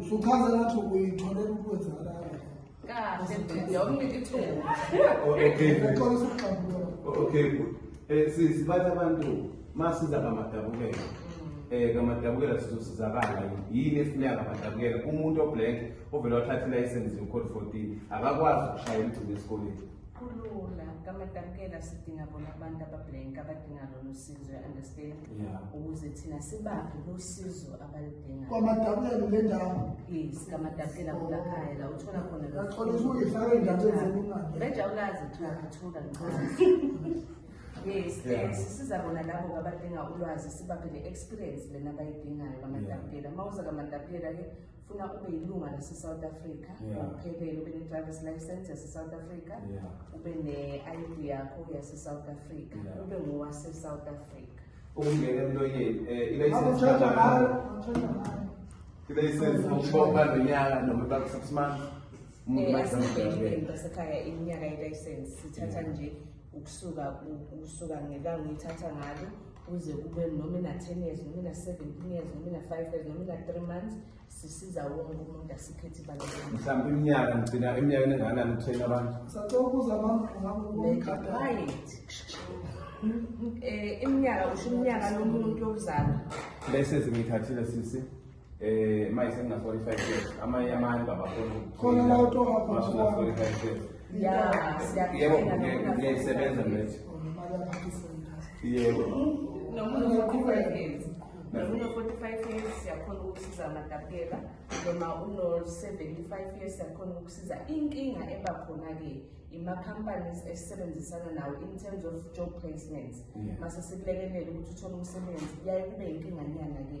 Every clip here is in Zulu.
Usuchaza ngathi uyitholela ukwenzakala. Kahle mfethu, awunike ithuba. Okay. Uqala ukuxabula. Okay, good. Eh sisi bathi abantu masiza kamadabukela. Mm. Eh kamadabukela sizosizakala yini efuneka kamadabukela umuntu oblank ovele wathatha ilayisensi yokhoda 14 akakwazi ukushayela igcine esikoleni kulula kamadabukela sidinga bona abantu abablank abadinga lolu sizwe understand yeah ukuze thina sibaphe losizo abalidinga kwamadabulelo le ndawo yes kamadabukela kula khaya la uthola khona lo Ngicela ukuthi ungihlale endaweni esekungathi. bejawulazi uthola uthola ngicela yes Yeah. yes siza bona labo abadinga ulwazi sibaphe le experience lena abayidingayo kamadabukela uma uza kamadabukela ke funa ube yilunga lase-south africa ngokuphelele yeah. ube ne-drivers license yase-south africa yeah. ube ne-id yakho yase-south africa yeah. ube ngowase-south africa ukungena emlonyeni um eh, ilayisensi ngokubopha nonyaka noma iba six months eh, basekhaya iminyaka ilayisensi sithatha nje ukusuka ukusuka ngelanga uyithatha ngalo kuze kube noma ina-ten years noma ina-seventeen years noma ina-five years noma ina-three months sisiza wonke umuntu asikhethi mhlawumbe iminyaka ngigcina iminyaka enengakanani ukuthena abantu sacokuza right um iminyaka usho iminyaka yomuntu yokuzalwa lese zingithathile sisi eh manje sengina 45 years amanye amanye baba khona la uto hapha masuna 45 years yeah yebo ngiyayisebenza manje yebo nomuntu uqhubeka ngenzi nomuntu 45 years siyakhona ukusiza amatapela noma uno 75 years siyakhona ukusiza inkinga eba khona ke ima companies esisebenzisana nawo in terms of job placements mase sikulekelela ukuthi uthole umsebenzi yaye kube inkinga nyana ke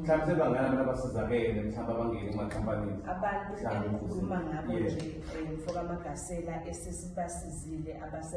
mhlawumbe sebangana abantu abasizakele mhlawumbe abangeni emakampanini abantu engikhuluma ngabo nje eh, mfoka magasela esesibasizile abase